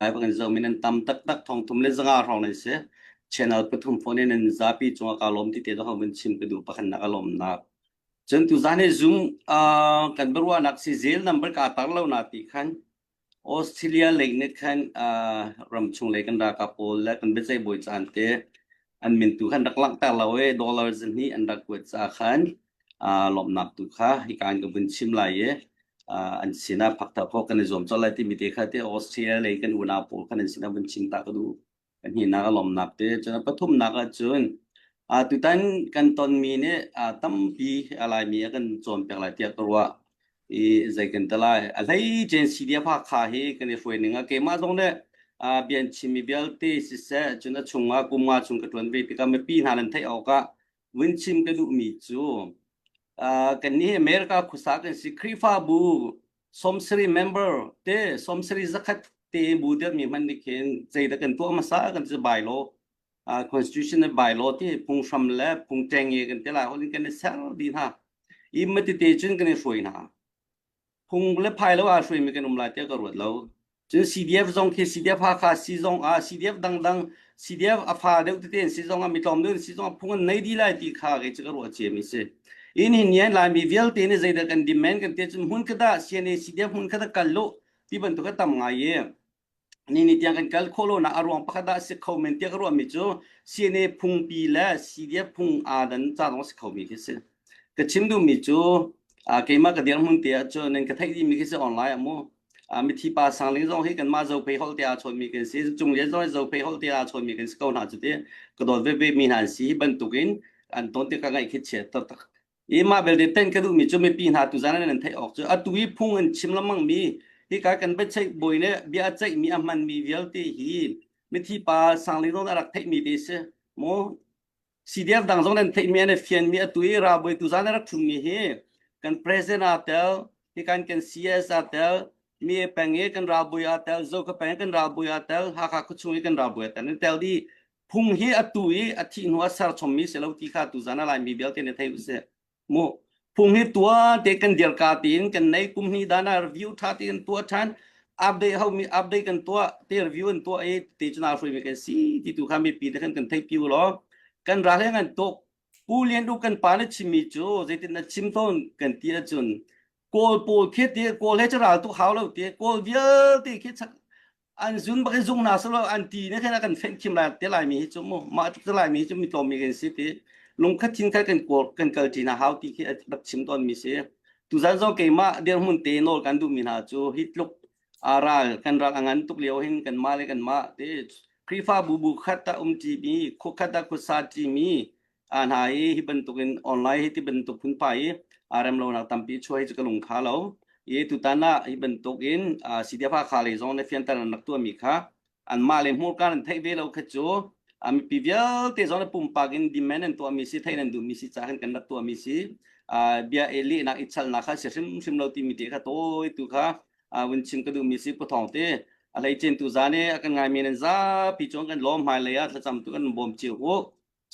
Hi bangin zomin nan tam taktak thongthum le zanga hrawng nan si. Channel pathum phone in nan zapi cungah kaa lawm ti te zong in chim ka duh pakhatnak a lawmnak. Cun tuzaan hi Zoom ah kan biaruahnak si zel number kaa tar lo na ti khan Australia lei nih khan ah ram chung lei kan ralkap pawl le kan biaceih bawi caan te an min tu khan rak langhter lo i dollar zan hnih an rak kuat ca khan uh, lawmnak tu kha hika an ka vun chim lai i uh, an sinah phakta phok kan i zuam cho lai timi te kha te Austria lei kan unau pawl khan an sinah vun chim ta ka du kan hina ka lawmnak te cun pathumnak ah cun uh, tutan kan tonmi nih uh, tampi alaimi a kan cawn pek lai tiah ka ruah i zei kan ta lai a hlei chen si dia pha kha hi kan i hruai ning a keimah zong le a bian chimi vialte siseh cun a chungah kumnga chung ka tuan ve tikah mipi hna nan theih awk ah vin chim ka duhmi cu kan ni America khusa kan si Khrihfabu somsari member te somsari zakhat te bu der mi hman ni khin zeidah kan tuah masa kan ci bai lo constitution bylaw ti phunghram le phungṭengnge kan te lai holin kan i ser di hna i matite cun kan i hruai hna phung le phai lo ah hruaimi kan um lai tiah ka ruat lo cun CDF zong khi CDF Hakha si zong ah CDF dangdang CDF a fa deuh tete in si zong ah mitlawm deuh in si zong ah phung an nei di lai ti kha kai cu ka ruah ciami si in hin nian lai mi vialte ni zeidah kan demand kan te cun hmun kada CNA CDF hmun kada kal lo ti bantuk a tam ngai ye Nini tiang kan kal khawh lonak a ruang pakhat ah a si kho men tiah ka ruahmi cu CNA phungpi le CDF phung aa dan caan a si khomi khi si. Ka chim duhmi cu uh, keimah ka dirhmun te ahcun nan ka theih dihmi khi si online ah mu. Uh, mithi pa sangling zong hi kanmah zophei holh te aa chawnmi kan si. Cung lian zong hi zophei holh te aa chawnmi kan si ko hna cu ti. Ka dawt veve mi hna an si hi bantukin an ton tikah ngaih khi chia taktak i mah belte tenh ka duhmi cu mipi hna tu zan nan theih awk cu atu i phung in chim lengmang mi hi ka kan biaceih bawi le bia a ceihmi a hmanmi vialte hi mithi pa sanglin rawn a rak theihmi te si maw CDF dang zong nan theihmi an fianmi atu i ralbawi tu zan a rak thummi hi kan president a tel hi kan kan CS a tel mi peng i kan ralbawi a tel Zoka peng i kan ralbawi a tel Hakha khuachung i kan ralbawi a tel an tel di Phung hi a tu i a thih hnu a serchommi si lo ti kha tuzan a Laimi vialte nih thei usih. Mu phung hi tua te kan dirka tiin kan nei kum hni dana review tha ti kan tua than update ho mi update kan tua te review an tua i te chuna hrui mi kan si ti tu kha mi pi te khan kan thei piu lo kan ra hle ngan tok pu lian du kan pa na chimi chu zeitin na chim thon kan ti a chun kawl pawl khiat ti kawl he charal tu hau lo ti kawl vialte khi an zun bak in zung na salo an ti ne khen kan feng thim la te lai mi chu mu ma tuk te lai mi chu mi tlom mi kan si ti lung khat thin khat kan kor kan kal ti na hau ti khi rak chim ton mi si tu zan zong keima dir mun te nol kan du mi na chu hi tluk aral kan rak angan tuk liao hin kan ma le kan ma te krifa bu bu khat ta um ti mi khu khat ta khu sa ti mi a hna i hi bantukin online hi ti bantuk hun pa i a rem lo nak tampi chuai cu ka lung kha lo i tutan ah hi bantukin sidia fa kha le zong ne fiantan an rak tuami kha an mah le hmur kan an theih ve lo kha cu a mipi vialte zong ne pumpak in demand an tuahmi si thei nan duhmi si ca kan kan rak tuahmi si bia e leh nak i chal nak kha si hrim hrim lo timi ti kha toi tu kha win chim ka duhmi si pothong te alei chen tu za ne akan ngai men an za pi chuan kan lom hmai le ya thlacam tu kan bom chiu u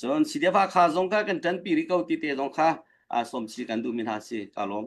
Cun sidefa kha zong kha kan ṭanpi rih ko ti te zong kha sawmsi kan duhmi hna si ka lawm.